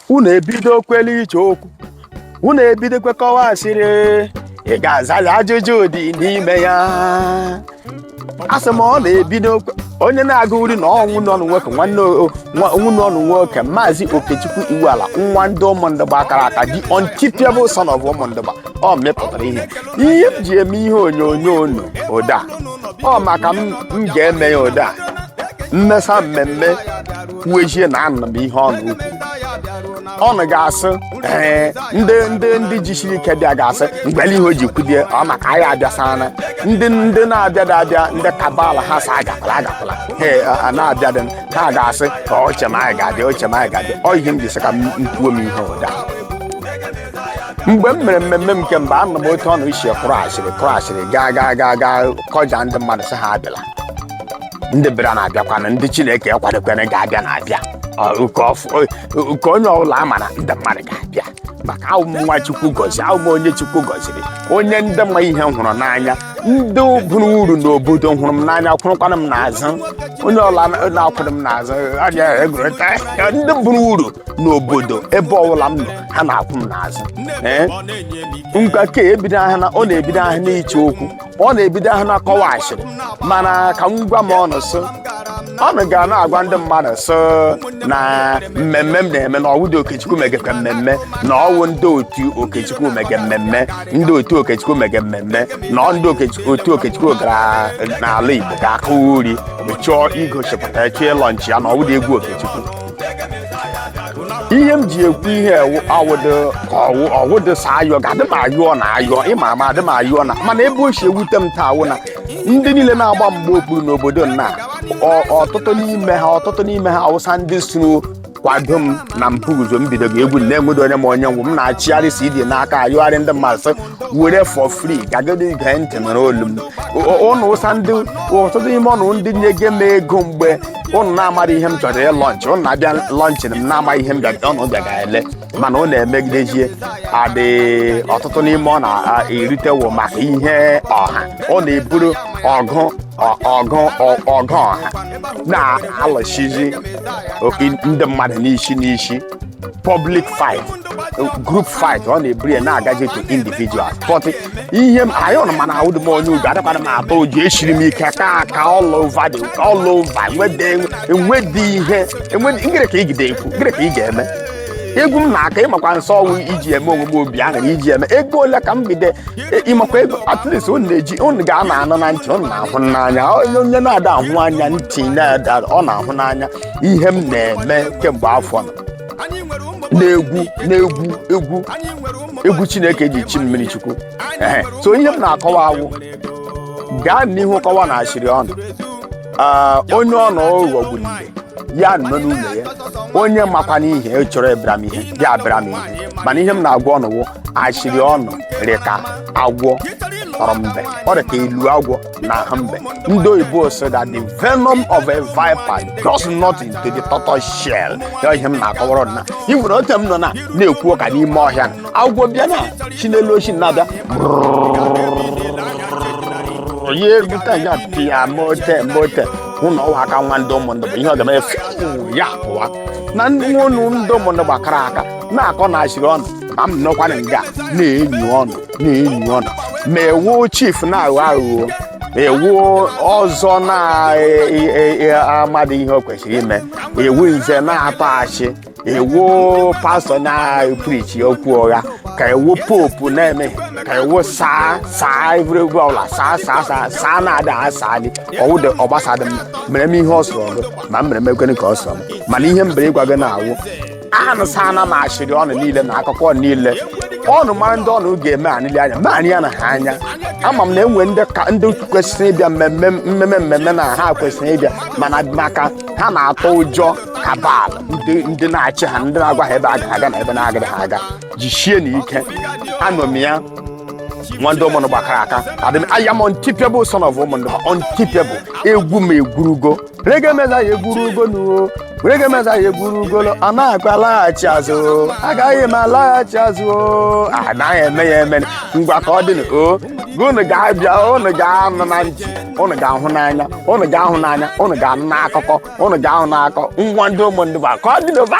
unu ebidokwele iche okwu unu ebidokwe kọwa asịrị ị ga-aza ya ajụjụ dị n'ime ya asị m unu ebidokwe- onye na-agụ uri na ọ wụ nwa nwoke nwanne o- nwa- ọ wụ nwa nwoke maazị okechukwu iwuala nwa ndị ụmụndụgba akara aka the unstoppable son of ụmụndụgba ọ mepụtara ihe ihe m ji eme ihe onyonyo unu ụda ọ maka m m ga-eme ya ụda m mesa mmemme kwuo ihe na anụ bụ ihe ọnụ ukwu unu ga-asị ee ndị ndị ndị jisiri ike bịa ga-asị mgbele ihe o ji kwudie ọ maka anyị abịasana ndị ndị na-abịada abịa ndị cabal ha sị agakwala agakwala ha e, a na-abịadị ha ga-asị ka o che ma anyị ga-abịa o che ma anyị ga-abịa ọ ihe m ji sị ka m kwuo m ihe ụda mgbe m mere mmemme m nke mgbe anụ m otu unu si kụrụ asịrị kụrụ asịrị gaa gaa gaa gaa kọja ndị mmadụ sị ha abịala ndị bịara na-abịakwanụ ndị chineke kwadokwere ga-abịa na-abịa Ọ, ka ọ fụ- ọ, ka onye ọbụla ama na ndị mmadụ ga-abịa maka a wụ m nwa chukwu gọziri a wụ m onye chukwu gọziri onye ndị ma ihe hụrụ n'anya ndị bụrụ uru n'obodo hụrụ m n'anya kwụrụkwana m n'azụ onye ọbụla na-akwụrụ m n'azụ arịa egwurịta ndị bụrụ uru n'obodo ebe ọbụla m nọ ha na-akwụ m n'azụ ee ngwa ka ebido ahịa na unu na-ebido ahụ n'iche okwu unu na-ebido ahụ na-akọwa asịrị mana ka m gwa m unu sị unu ga na-agwa ndị mmadụ sị na mmemme m na-eme na ọ wụdị okechukwu megekwa mmemme na ọ wụ ndị otu okechukwu mege mmemme ndị otu okechukwu mege mmemme na ọ ndị Okechukwu- otu okechukwu gara n'ala igbo ga-akụ uri chọọ igosipụta chọọ ịlọnchị ya na ọ wụdị egwu okechukwu ihe m ji ekwu ihe ọ wụdị ọ wụ ọ wụdị sị ayọ ga-adị m ayọ na ayọ ịma ama adị m ayọ na mana ebe o si ewute m taa wụ na ndị niile na-agba mgba okpuru n'obodo nna ọ- ọtụtụ n'ime ha ọtụtụ n'ime ha awụsa ndị soro kwado m na mpụ guzo m bido egwu m na-enwedo onye ma onye m wụ m na-achịgharị CD n'aka ayọgharị ndị mmadụ sị were for free gagodi gee ntị nụrụ olu m ụnụ wụsa ndị ọtụtụ n'ime ụnụ ndị nyege m ego mgbe ụnụ na-amara ihe m chọrọ ịlọnchị ụnụ na-abịa lọnchị m na-ama ihe m ụnụ bịaga ele mana ụnụ emegidezie adị ọtụtụ n'ime ụnụ eritewo maka ihe ọha ụnụ eburu ọgụ ọgụ ọgụ ọha na-alụsizi ndị mmadụ n'isi n'isi public fight group fight unu eburu ya na-agaje to individual but ihe m anyị unu mana a wụdị m onye ụjọ adịkwana m atụ ụjọ esiri m ike kaa aka all over the all over enwede enwede ihe enwede ngere ka igide ekwu ngere ka ị ga-eme egwu m na-aka ịmakwa nsọ ọnwụ iji eme onwe m obi ahụ na iji eme ego ole ka m bido e- ịmakwa ego at least unu na-eji unu ga-ana anọ na ntị unu na-ahụ n'anya onye onye na-ada ahụ anya ntị na-ada unu na-ahụ n'anya ihe m na-eme kemgbe afọ na anyị nwere ụmụ na-egwu na-egwu egwu anyị nwere ụmụ egwu chineke ji chi mmiri chukwu ehe so ihe m na-akọwa awụ gaa n'ihu kọwa na asịrị ọnụ Ah, onye ọnụ ụghọ gburu ibe ya nọ n'ụlọ ya onye makwa n'ihe ọ chọrọ ịbịara m ihe ya abịara m ihe mana ihe m na-agwa ọnụ wụ asịrị ọnụ rịka agwọ tụrụ mbe ọ dị ka ilu agwọ na ahụ mbe ndị oyibo so that the venom of a viper does nothing to the tortoise shell ya ihe m na-akọwara na ị nwere ote m nọ na na-ekwu ụka n'ime ọhịa na agwọ bịa na si n'elu osisi na-abịa onye ebute ya pịa mote mote ụlọ ọwa aka nwa ndị ụmụndụgba ihe ọ ga-eme efe ya pụwa na ndị nwa unu ndị ụmụndụgba kara aka na-akọ na asịrị ọnụ ma m nọkwana nga na-enyi ọnụ na-enyi ọnụ ma ị wụ chief na-aghọ aghụghọ ị wụ ọzọ na-amadị ihe o kwesịrị ime ị wụ nze na-atụ asị ị wụ pastor na-eprichi okwu ụgha ka ị wụ pope na-eme ka ị wụ sir sir egwuregwu ọbụla saa saa saa saa na-ada asaa gị ọ wụdị ọ gbasadị m mere m ihe ọ sọrọ gị ma m mere m ekwene ka ọ sọrọ m mana ihe m bere ịgwa gị na-awụ anụsana m asịrị ọnụ niile na akụkọ niile ọnụ mara ndị ọnụ ga-eme anịli anya naanị ya na ha anya ama m na e nwe ndị kwesịrị ịbịa mmemme mmemme mmemme na ha kwesịrị ịbịa mana maka ha na-atụ ụjọ cabal ndị na-achị ha ndị na-agwa ha ebe ha ga-aga na ebe na-agaghị ha aga jisienụ ike anọ m ya nwa ndị ụmụndụgba kara aka adị m aya m untipiable son of ụmụnụ untipiable egwu m egwurugo rege meza ya eburu ugonuo rege meza ya eburu ugolo a na-akpa alaghachi azụ agaghị m alaghachi azụ o. anaghị eme ya eme ngwa ka ọ dị o unu ga-abịa unu ga-anụ na ntị unu ga-ahụ n'anya unu ga-ahụ n'anya unu ga-anụ n'akụkọ unu ga-ahụ n'akọ nwa ndị ụmụndụgba ka ọ dị n'ụba